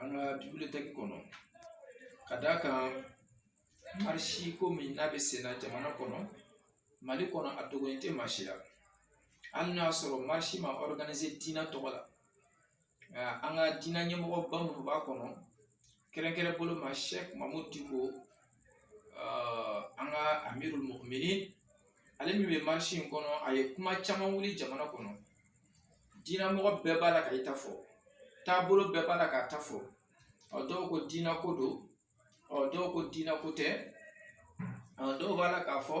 an ka bibilitɛki kɔnɔ ka d'a kan marisi ko min n'a bɛ senna jamana kɔnɔ mali kɔnɔ a dogolen tɛ maa si la hali n'a y'a sɔrɔ marisi ma ɔriganize diinɛ tɔgɔ la nka an ka diinɛ ɲɛmɔgɔba minnu b'a kɔnɔ kɛrɛnkɛrɛn bolo ma sɛki mamudu diko an ka amirul muminin ale min bɛ marisi in kɔnɔ a ye kuma caman wuli jamana kɔnɔ diinɛ mɔgɔ bɛɛ b'a la ka i ta fɔ taabolo bɛɛ b'a la k'a ta fɔ ɔ dɔw ko diinɛ ko don ɔ dɔw ko diinɛ ko tɛ ɔ dɔw b'a la k'a fɔ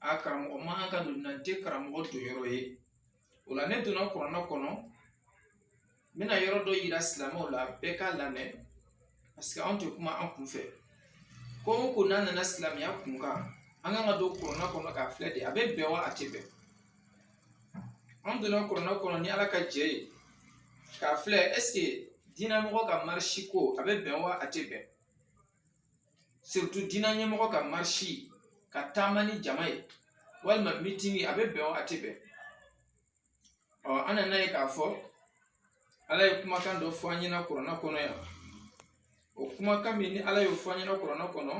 a karamɔgɔ man kan ka don a tɛ karamɔgɔ don yɔrɔ ye o la ne donna kuranɛ kɔnɔ n bɛna yɔrɔ dɔ yira silamɛw la bɛɛ k'a lamɛn parce que anw tɛ kuma an kun fɛ ko o ko n'a nana silamɛya kun kan an kan ka don kuranɛ kɔnɔ k'a filɛ de a bɛ bɛn wa a tɛ bɛn an donna kuranɛ kɔnɔ ni ala ka jɛ ye k'a filɛ est-ce que diinɛ mɔgɔ ka marisi ko a bɛ bɛn wa a tɛ bɛn surtout diinɛ ɲɛmɔgɔ ka marisi ka taama ni jama ye walima mitini a bɛ bɛn wa a tɛ bɛn ɔ an nana ye k'a fɔ ala ye kumakan dɔ fɔ an ɲɛna kuranɛ kɔnɔ yan o kumakan min ni ala y'o fɔ an ɲɛna kuranɛ kɔnɔ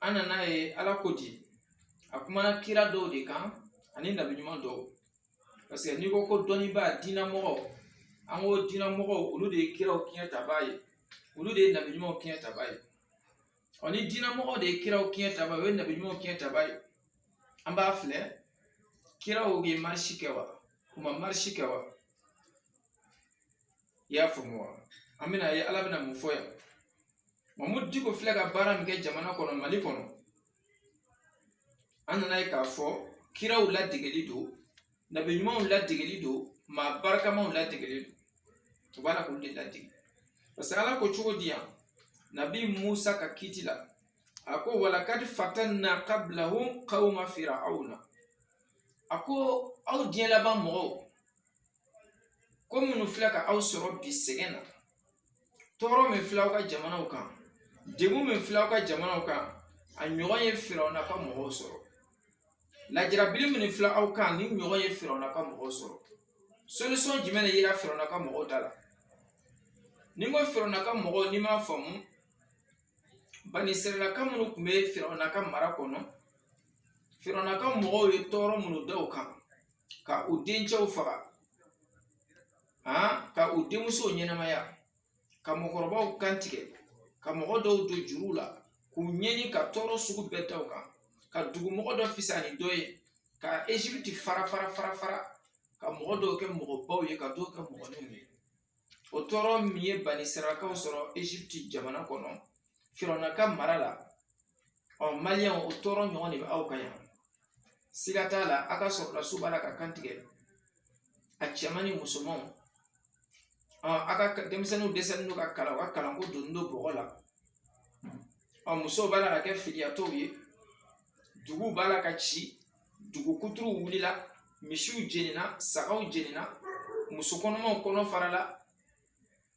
an nana ye ala ko di a kumana kira dɔw de kan ani nabi ɲuman dɔw parce que n'i ko ko dɔnnibaa diinɛ mɔgɔ an ko diinɛ mɔgɔw olu de ye kiraw kiɲɛ tabaa ye olu de ye nabi ɲumanw kiɲɛ tabaa ye ɔ ni diinɛ mɔgɔw de ye kiraw kiɲɛ tabaa ye u ye nabi ɲumanw kiɲɛ tabaa ye an b'a filɛ kiraw ye marisi kɛ wa u ma marisi kɛ wa i y'a faamu wa an bɛna ye ala bɛna mun fɔ yan mamudu diko filɛ ka baara min kɛ jamana kɔnɔ mali kɔnɔ an nana ye k'a fɔ kiraw ladegeli don nabi ɲumanw ladegeli don maa barikamaw ladegeli don u b'a la k'olu de ladege parce que ala ko cogo di yan nabi musa ka kiti la a ko walaqad fatanna qablahum qawma fir'auna a ko aw diɲɛ laban mɔgɔw ko minnu filɛ ka aw sɔrɔ bi sɛgɛn na tɔɔrɔ min filɛ aw ka jamanaw kan degun min filɛ aw ka jamanaw kan a ɲɔgɔn ye firawuna ka mɔgɔw sɔrɔ lajarabili minnu filɛ aw kan nin ɲɔgɔn ye firawuna ka mɔgɔw sɔrɔ solution jumɛn de yera firawuna ka mɔgɔw da la ni n ko firawuna ka mɔgɔw n'i m'a faamu bani israyilaka minnu tun bɛ firawuna ka mara kɔnɔ firawuna ka mɔgɔw ye tɔɔrɔ minnu da u kan ka u dencɛw faga ka u denmusow ɲɛnamaya ka mɔgɔkɔrɔbaw kan tigɛ ka mɔgɔ dɔw don juruw la k'u ɲɛni ka tɔɔrɔ sugu bɛɛ da u kan ka dugumɔgɔ dɔ fisa ni dɔ ye ka ezipiti fara fara fara fara ka mɔgɔ dɔw kɛ mɔgɔbaw ye ka dɔw kɛ mɔgɔninw ye o tɔɔrɔ min ye bani israyilakaw sɔrɔ ezipti jamana kɔnɔ firawuna ka mara la ɔ maliyɛnw o tɔɔrɔ ɲɔgɔn de bɛ aw kan yan siga t'a la a ka sɔrɔlasiw b'a la ka kan tigɛ a cɛman ni musomanw ɔ a ka denmisɛnninw dɛsɛlen don ka kalan u ka kalanko donnen don bɔgɔ la ɔ musow b'a la ka kɛ filiyatɔw ye duguw b'a la ka ci dugu kuturu wulila misiw jenina sagaw jenina muso kɔnɔmaw kɔnɔ farala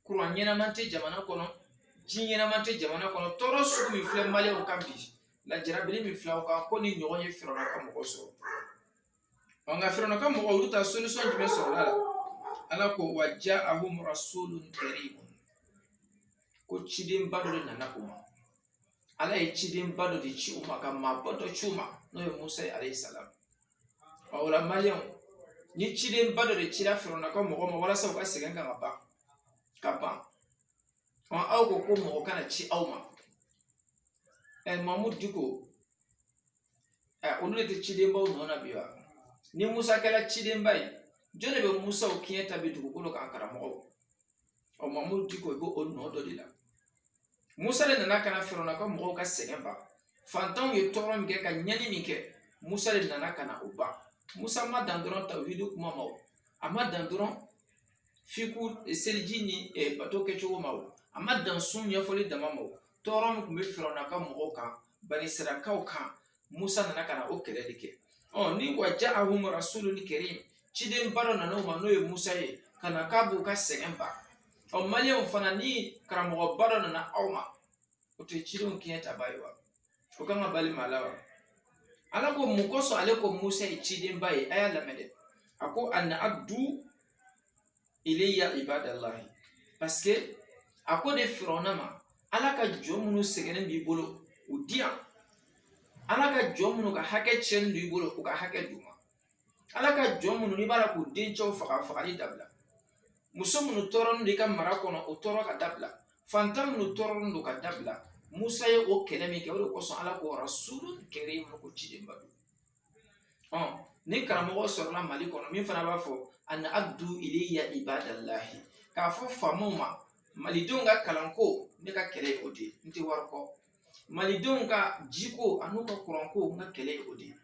kuran ɲɛnama tɛ jamana kɔnɔ ji ɲɛnama tɛ jamana kɔnɔ tɔɔrɔ sugu min filɛ maliyɛnw kan bi lajarabili min filɛ aw kan ko nin ɲɔgɔn ye firawuna ka mɔgɔw sɔrɔ ɔ nka firawuna ka mɔgɔw olu ta solisɔn jumɛn sɔrɔla la ala ko wa ja ahum rasulun karim ko cidenba dɔ de nana u ma ala ye cidenba dɔ de ci u ma ka maaba dɔ ci u ma n'o ye musa ye alayhi salam ɔ o la maliyɛnw ni cidenba dɔ de cira firawuna ka mɔgɔ ma walasa u ka sɛgɛn ka ka ban ka ban ɔ aw ko ko mɔgɔ kana ci aw ma ɛ mamudu diko ɛ olu de tɛ cidenbaw nɔ na bi wa ni musa kɛra cidenba ye jɔn de bɛ musaw kiɲɛ ta bi dugukolo kan karamɔgɔw ɔ mamudu diko i b'o o nɔ dɔ de la musa de nana ka na firawuna ka mɔgɔw ka sɛgɛn ban fantanw ye tɔɔrɔ min kɛ ka ɲɛni min kɛ musa de nana ka na o ban musa ma dan dɔrɔn tawhidi kuma ma o a ma dan dɔrɔn fiku seliji ni eh, bato kɛcogo ma o a ma dan sun ɲɛfɔli dama ma o tɔɔrɔ min tun bɛ firawuna ka mɔgɔw kan bani israyilakaw kan musa nana ka na o kɛlɛ de kɛ ɔ ni wa ja ahum rasulun karim ciden ba dɔ nana u ma n'o ye musa ye ka na k'a b'u ka sɛgɛn ban ɔ maliyɛnw fana ni karamɔgɔba dɔ nana aw ma o tɛ cidenw kiɲɛtaba ye wa o kan ka bali maa la wa ala ko mun kosɔn ale ko musa ye cidenba ye a y'a lamɛn dɛ a ko an addu ilayya ibadallahi parce que a ko de firawuna ma ala ka jɔn minnu sɛgɛnnen b'i bolo u di yan ala ka jɔn minnu ka hakɛ tiɲɛnen don i bolo u ka hakɛ d'u ma ala ka jɔn minnu n'i b'a la k'u dencɛw faga fagali dabila muso minnu tɔɔrɔlen don i ka mara kɔnɔ o tɔɔrɔ ka dabila fantan minnu tɔɔrɔlen don ka dabila musa ye o kɛlɛ min kɛ o de kosɔn ala ko rasulun karim ko cidenba don ni karamɔgɔ sɔrɔla mali kɔnɔ min fana b'a fɔ an addu ilayya ibadallahi k'a fɔ faamaw ma malidenw ka kalanko ne ka kɛlɛ ye o de ye n tɛ wari kɔ malidenw ka jiko an'u ka kuranko n ka kɛlɛ ye o de ye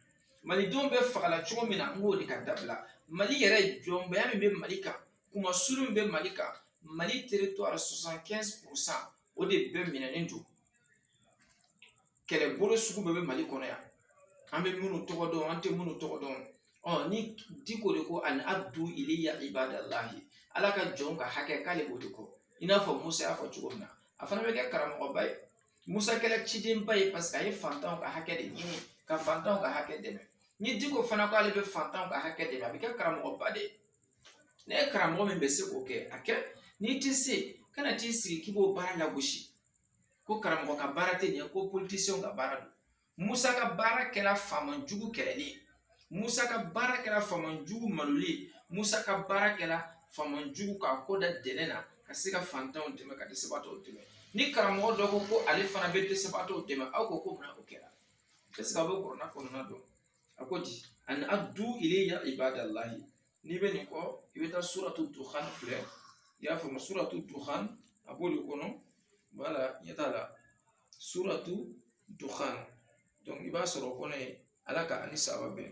malidenw bɛ fagala cogo min na n k'o de ka dabila mali yɛrɛ jɔnbaya min bɛ mali kan kunmasuuli min bɛ mali kan mali territoire 75 pourcent o de bɛɛ minɛnen don kɛlɛbolo sugu bɛɛ bɛ mali kɔnɔ yan an bɛ minnu tɔgɔ dɔn an tɛ minnu tɔgɔ dɔn ni diko de ko an addu ilayya ibadallahi ala ka jɔn ka hakɛ k'ale b'o de kɔ i n'a fɔ musa y'a fɔ cogo min na a fana bɛ kɛ karamɔgɔba ye musa kɛra cidenba ye paseke a ye fantanw ka hakɛ de ɲini ka fantanw ka hakɛ dɛmɛ ni diko fana ko ale bɛ fantanw ka hakɛ dɛmɛ a bɛ kɛ karamɔgɔba de ye n'e ye karamɔgɔ min bɛ se k'o kɛ a kɛ n'i tɛ se kana t'i sigi k'i b'o baara lagosi ko karamɔgɔ ka baara tɛ nin ye ko politisiyɛnw ka baara don musa ka baara kɛra faama jugu kɛlɛli ye musa ka baara kɛra faama jugu maloli ye musa ka baara kɛra faama jugu k'a kɔ da dɛnɛ na ka se ka fantanw dɛmɛ ka dɛsɛbaatɔw dɛmɛ ni karamɔgɔ dɔ ko ko ale fana bɛ dɛsɛbaatɔw dɛmɛ aw ko ko mun o kɛra est ce que aw bɛ kuranɛ kɔnɔna dɔn a ko di an addu ilayya ibadallahi n'i bɛ nin kɔ i bɛ taa suratu duhan filɛ i y'a faamu suratu duhan a b'o de kɔnɔ voilà ɲɛ t'a la suratu duhan donc i b'a sɔrɔ o kɔnɔ ye ala ka ani saba bɛn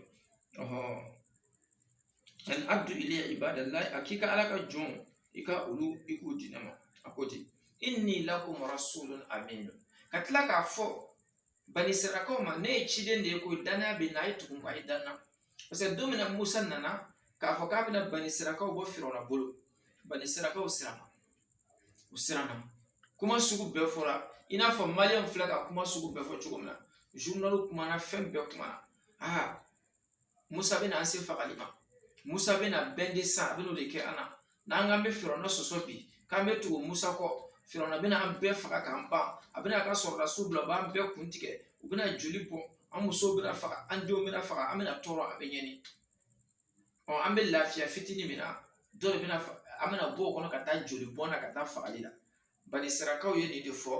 an addu ilayya ibadallahi a k'i ka ala ka jɔn i ka olu i k'u di ne ma a ko ten inni lakum rasulun amin ka tila k'a fɔ banisirayilakaw ma ne ye ciden de ye ko dannaya bɛ n na a ye tugu n na a ye da n na paseke don min na musa nana k'a fɔ k'a bɛna banisirayilakaw bɔ firawuna bolo banisirayilakaw siranna u siranna kuma sugu bɛɛ fɔra i n'a fɔ maliyɛnw filɛ ka kuma sugu bɛɛ fɔ cogo min na zurunaliw kumana fɛn bɛɛ kumana aa musa bɛna an se fagali ma musa bɛna bɛn de san a bɛn'o de kɛ an na n'an k'an bɛ firawuna sɔsɔ bi k'an bɛ tugu musa kɔ firawuna bɛna an bɛɛ faga k'an ban a bɛna a ka sɔrɔdasiw bila u b'an bɛɛ kun tigɛ u bɛna joli bɔn an musow bɛna faga an denw bɛna faga an bɛna tɔɔrɔ a bɛ ɲɛni ɔ an bɛ lafiya fitinin min na dɔ de bɛna an bɛna bɔ o kɔnɔ ka taa joli bɔn na ka taa fagali la banisirayilakaw ye nin de fɔ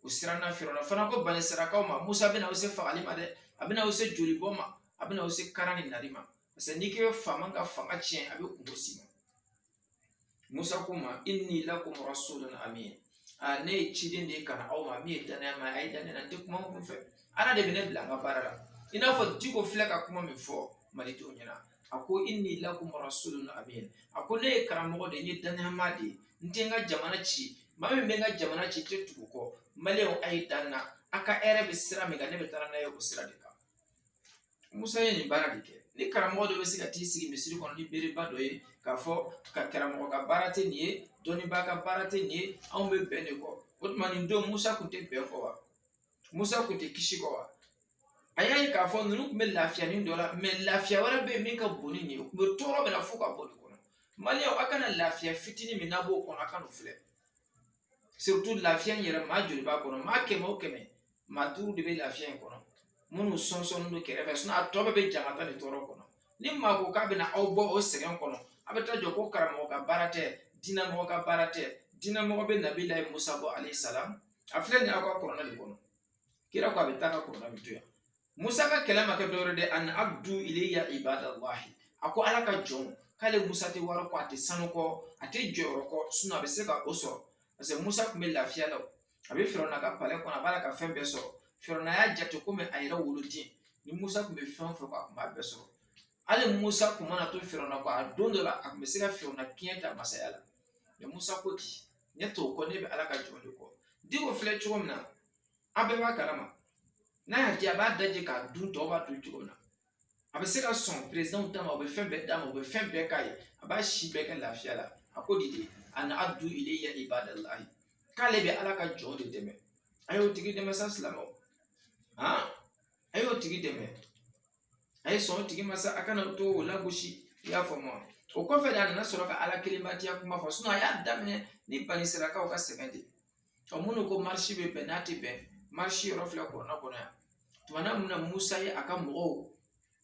u siranna firawuna fana ko banisirayilakaw ma musa bɛna aw se fagali ma dɛ a bɛna aw se joli bɔn ma a bɛna aw se karan ni nali ma parce que n'i k'i bɛ faama ka fanga tiɲɛ a bɛ kungo si ma musa ko u ma inni lakum rasulun amin ne ye ciden de ye ka na aw ma min ye dannaya ma a ye dannaya n tɛ kuma n kun fɛ ala de bɛ ne bila an ka baara la i n'a fɔ diko filɛ ka kuma min fɔ malidenw ɲɛna a ko inni lakum rasulun amin a ko ne ye karamɔgɔ de ye n ye danayamaa de ye n tɛ n ka jamana ci maa min bɛ n ka jamana ci tɛ tugu kɔ maliyɛnw a ye da n na a ka hɛrɛ bɛ sira min kan ne bɛ taa n'a ye o sira de kan musa ye nin baara de kɛ ni karamɔgɔ dɔ bɛ se ka t'i sigi misiri kɔnɔ ni beereba dɔ ye k'a fɔ ka karamɔgɔ ka baara tɛ nin ye dɔnnibaa ka baara tɛ nin ye anw bɛ bɛn de kɔ o tuma nin don musa tun tɛ bɛn kɔ wa musa kun tɛ kisi kɔ wa a y'a ye k'a fɔ ninnu tun bɛ lafiya nin dɔ la mɛ lafiya wɛrɛ bɛ yen min ka bon ni nin ye u bɛ tɔɔrɔ min na fo ka bɔ nin kɔnɔ maliyɛnw a kana lafiya fitinin min n'a b'o kɔnɔ a kana o filɛ surtout lafiya in yɛrɛ maa joli b'a kɔnɔ maa kɛmɛ o kɛmɛ maa duuru de bɛ lafiya in kɔnɔ minnu sɔnsɔnnen don kɛrɛfɛ sinɔn a tɔ bɛɛ bɛ jangata ni tɔɔrɔ kɔnɔ ni maa ko k'a bɛna aw bɔ o sɛgɛn kɔnɔ a bɛ taa jɔ ko karamɔgɔ ka baara tɛ diinɛmɔgɔ ka baara tɛ diinɛmɔgɔ bɛ nabilahi musa bɔ alayhi salam a filɛ nin ye aw ka kuranɛ de kɔnɔ kira ko a bɛ taa ka kuranɛ bɛ to yan musa ka kɛlɛ ma kɛ dɔwɛrɛ dɛ an addu ilayya ibadallahi a ko ala ka jɔnw k'ale musa tɛ wari kɔ a tɛ sanu kɔ a tɛ jɔyɔrɔ kɔ sinɔn a bɛ se ka o sɔrɔ parce que musa tun bɛ lafiya la a bɛ firawuna ka palɛ kɔnɔ a b'ala ka fɛn bɛɛ sɔrɔ firawuna y'a jate komi a yɛrɛ woloden ni musa tun bɛ fɛn o fɛn kɔ a tun b'a bɛɛ sɔrɔ hali musa tun mana to firawuna kɔ a don dɔ la a tun bɛ se ka firawuna kiɲɛ ta masaya la mɛ musa ko di ne t'o kɔ ne bɛ ala ka jɔn de kɔ diko filɛ cogo min na an bɛɛ b'a kalama n'a y'a di a b'a daji k'a dun tɔw b'a dun cogo min na a bɛ se ka sɔn perezidanw ta ma o bɛ fɛn bɛɛ d'a ma o bɛ fɛn bɛɛ k'a ye a b'a si bɛɛ kɛ lafiya la a ko di dɛ an addu ilayya ibadallahi k'ale bɛ ala ka jɔn de dɛmɛ a y'o tigi dɛmɛ sa silamɛw han a y'o tigi dɛmɛ a ye sɔn o tigi ma sa a kana to o lagosi i y'a faamu wa o kɔfɛ de a nana sɔrɔ ka ala kelen batoya kuma fɔ a y'a daminɛ ni bani israyilakaw ka sɛgɛn de ɔ minnu ko marisi bɛ bɛn n'a tɛ bɛn marisi yɔrɔ filɛ kuranɛ kɔnɔ yan tumana min na musa ye a ka mɔgɔw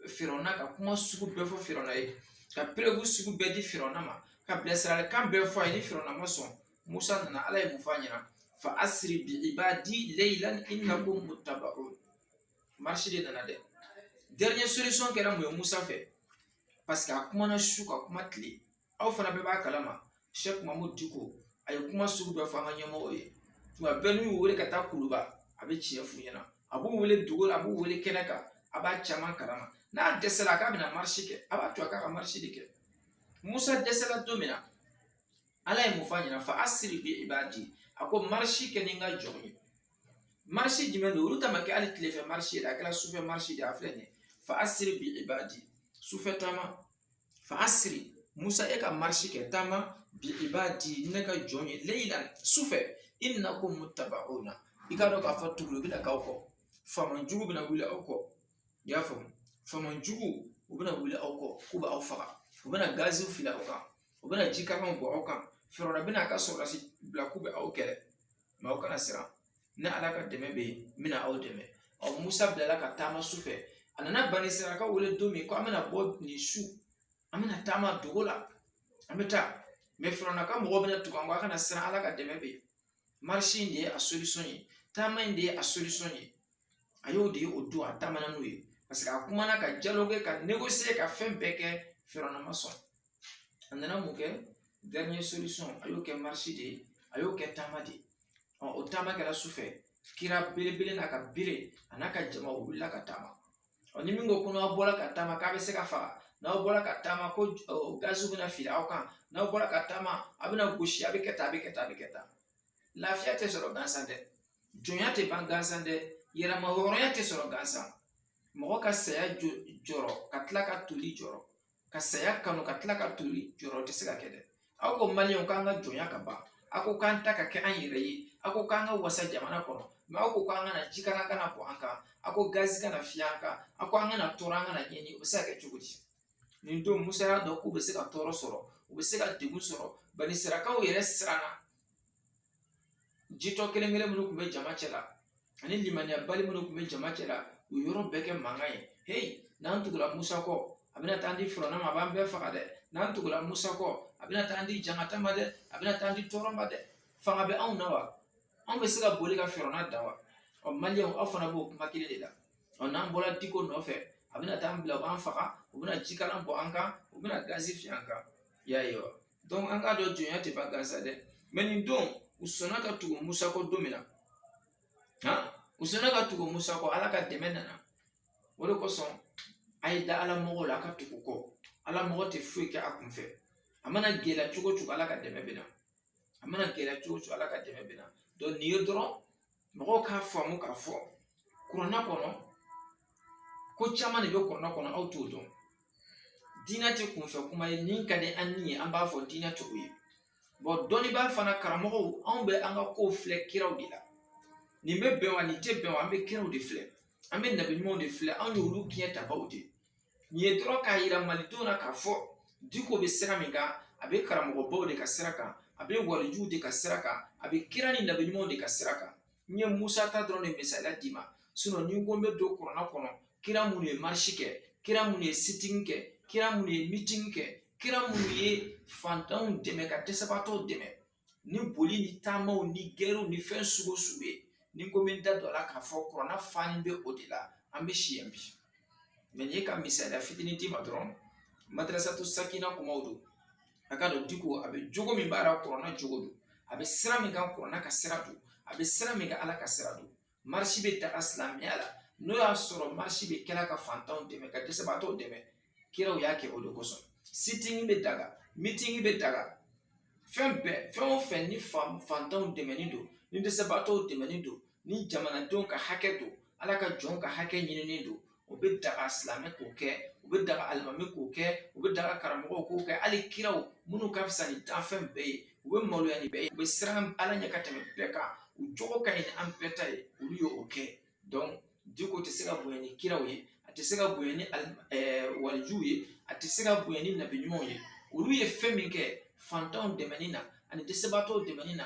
firawuna ka kuma sugu bɛɛ fɔ firawuna ye ka preuve sugu bɛɛ di firawuna ma ka bilasiralikan bɛɛ fɔ a ye ni firawuna ma sɔn musa nana ala ye mun fɔ a ɲɛna fa asri bi ibadi laylan innakum muttabaun marisi de nana dɛ dernière solution kɛra mun ye musa fɛ parce que a kumana su ka kuma tile aw fana bɛɛ b'a kalama sɛk mahmud diko a ye kuma sugu bɛɛ fɔ an ka ɲɛmɔgɔw ye tuma bɛɛ n'u y'u wele ka taa kuluba a bɛ tiɲɛ f'u ɲɛna a b'u wele dogo la a b'u wele kɛnɛ kan a b'a caman kalama n'a dɛsɛla k'a bɛna marisi kɛ a b'a to a k'a ka marisi de kɛ musa dɛsɛla don min na ala ye mun fɔ a ɲɛ na fa asiri bi ibadi a ko marisi kɛ ni n ka jɔnw ye marisi jumɛn don olu ta ma kɛ hali tilefɛ marisi ye a kɛra sufɛ marisi de a filɛ nin ye fa asiri bi ibadi sufɛ taama fa asiri musa e ka marisi kɛ taama bi ibadi ne ka jɔn ye laylan sufɛ innakum muttaba'una i k'a dɔn k'a fɔ tugulu bɛna k'aw kɔ faama jugu bɛna wuli aw kɔ i y'a faamu faama jugu u bɛna wuli aw kɔ k'u b'aw faga u bɛna gaziw fili aw kan u bɛna jikalan bɔ aw kan firawuna bɛna a ka sɔrɔdasi bila k'u bɛ aw kɛlɛ mɛ aw kana siran ne ala ka dɛmɛ bɛ yen n bɛna aw dɛmɛ ɔ musa bilala ka taama su fɛ a nana bani israyilakaw wele don min ko an bɛna bɔ nin su an bɛna taama dogo la an bɛ taa mɛ firawuna ka mɔgɔw bɛna tugu an kɔ a kana siran ala ka dɛmɛ bɛ yen marisi in de ye a solisɔn ye taama in de ye a solisɔn ye a y'o de ye o don a taamana n'o ye parce que a kumana ka dialoguer ka négocier ka fɛn bɛɛ kɛ firawuna ma sɔn a nana mun kɛ dernière solisɔn a y'o kɛ marisi de ye a y'o kɛ taama de ye o taama kɛra sufɛ kira belebele n'a ka bere a n'a ka jama o wulila ka taama ni min ko ko n'aw bɔra ka taama k'a bɛ se ka faga n'aw bɔra ka taama ko gaziw bɛna fili aw kan n'aw bɔra ka taama a bɛna gosi a bɛ kɛ tan a bɛ kɛ tan a bɛ kɛ tan lafiya tɛ sɔrɔ gansan dɛ jɔnya tɛ ban gansan dɛ yɛrɛmahɔrɔnya tɛ sɔrɔ gansan mɔgɔ ka saya jɔrɔ ka tila ka toli jɔrɔ ka saya kanu ka tila ka toli jɔrɔ o tɛ se ka kɛ dɛ aw ko maliyɛnw k'an ka jɔnya ka ban aw ko k'an ta ka kɛ an yɛrɛ ye aw ko k'an ka wasa jamana kɔnɔ mɛ aw ko k'an kana jikalan kana bɔ an kan aw ko gazi kana fiyɛ an kan aw ko an kana tɔɔrɔ an kana ɲɛni o bɛ se ka kɛ cogo di nin don musa y'a dɔn k'u bɛ se ka tɔɔrɔ sɔrɔ u bɛ se ka degun sɔrɔ bani israyilakaw yɛrɛ siranna jitɔ kelen kelen minnu tun bɛ jama cɛ la ani limaniyabali minnu tun bɛ jama cɛ la u yɔrɔ bɛɛ kɛ mankan ye heyi n'an tugula musa kɔ a bɛna taa di firawuna ma a b'an bɛɛ faga dɛ n'an tugula musa kɔ a bɛna taa di jankata ma dɛ a bɛna taa di tɔɔrɔ ma dɛ fanga bɛ anw na wa anw bɛ se ka boli ka firawuna dan wa ɔ maliyɛnw aw fana b'o kuma kelen de la ɔ n'an bɔra diko nɔfɛ a bɛna taa an bila u b'an faga u bɛna jikalan bɔ an kan u bɛna gazi fiyɛ an kan i y'a ye wa dɔnku an k'a dɔn jɔnya tɛ ban gansan dɛ mɛ nin don u sɔnna ka tugu musa kɔ don min na u sɔnna ka tugu musa kɔ ala ka dɛmɛ nana o de kosɔn a ye da ala mɔgɔw la a ka tugu kɔ ala mɔgɔ tɛ foyi kɛ a kunfɛ a mana gɛlɛya cogo cogo ala ka dɛmɛ bɛ na a mana gɛlɛya cogo cogo ala ka dɛmɛ bɛ na dɔnku nin ye dɔrɔn mɔgɔw k'a faamu k'a fɔ kuranɛ kɔnɔ ko caman de bɛ kuranɛ kɔnɔ aw t'o dɔn diinɛ tɛ kunfɛ kuma ye nin ka di an ni ye an b'a fɔ diinɛ tɛ o ye bɔn dɔnnibaa fana karamɔgɔw anw bɛ an ka kow filɛ kiraw de la nin bɛ bɛn wa nin tɛ bɛn wa an bɛ kiraw de filɛ an bɛ nabi ɲumanw de filɛ anw y'olu ciɲɛ tabaw de ye nin ye dɔrɔn k'a yira malidenw na k'a fɔ diko bɛ sira min kan a bɛ karamɔgɔbaw de ka sira kan a bɛ walijuw de ka sira kan a bɛ kira ni nabi ɲumanw de ka sira kan n ye musa ta dɔrɔn de misaliya d'i ma sinon ni n ko n bɛ don kurana kɔnɔ kira minnu ye marisi kɛ kira minnu ye sitini kɛ kira minnu ye mitini kɛ kira minnu ye fantanw dɛmɛ ka dɛsɛbaatɔw dɛmɛ ni boli ni taamaw ni gɛrɛw ni fɛn sugu sugu ye ni n ko n bɛ n da don a la k'a fɔ kurana fanin bɛ o de la an bɛ si yan bi mais nin ye ka misaliya fitinin d'i ma dɔrɔn madarasatu sakina kumaw don a k'a dɔn diko a bɛ jogo min b'a la kurana jogo don a bɛ sira min kan kurana ka sira don a bɛ sira min kan ala ka sira don marisi bɛ daga silamɛya la n'o y'a sɔrɔ marisi bɛ kɛla ka fantanw dɛmɛ ka dɛsɛbaatɔw dɛmɛ kiraw y'a kɛ o de kosɔn sitingi bɛ daga mitingi bɛ daga fɛn bɛɛ fɛn o fɛn ni fantanw dɛmɛni don ni dɛsɛbaatɔw dɛmɛni don ni jamanadenw ka hakɛ don ala ka jɔn ka hakɛ ɲinini don o bɛ daga silamɛ k'o kɛ o bɛ daga alimami k'o kɛ o bɛ daga karamɔgɔw k'o kɛ hali kiraw minnu ka fisa ni danfɛn bɛɛ ye u bɛ maloya ni bɛɛ ye u bɛ siran ala ɲɛ ka tɛmɛ bɛɛ kan u jogo ka ɲi ni an bɛɛ ta ye olu ye o kɛ donc diko tɛ se ka bonya ni kiraw ye a tɛ se ka bonya ni walijuw ye a tɛ se ka bonya ni nabi ɲumanw ye olu ye fɛn min kɛ fantanw dɛmɛni na ani dɛsɛbaatɔw dɛmɛni na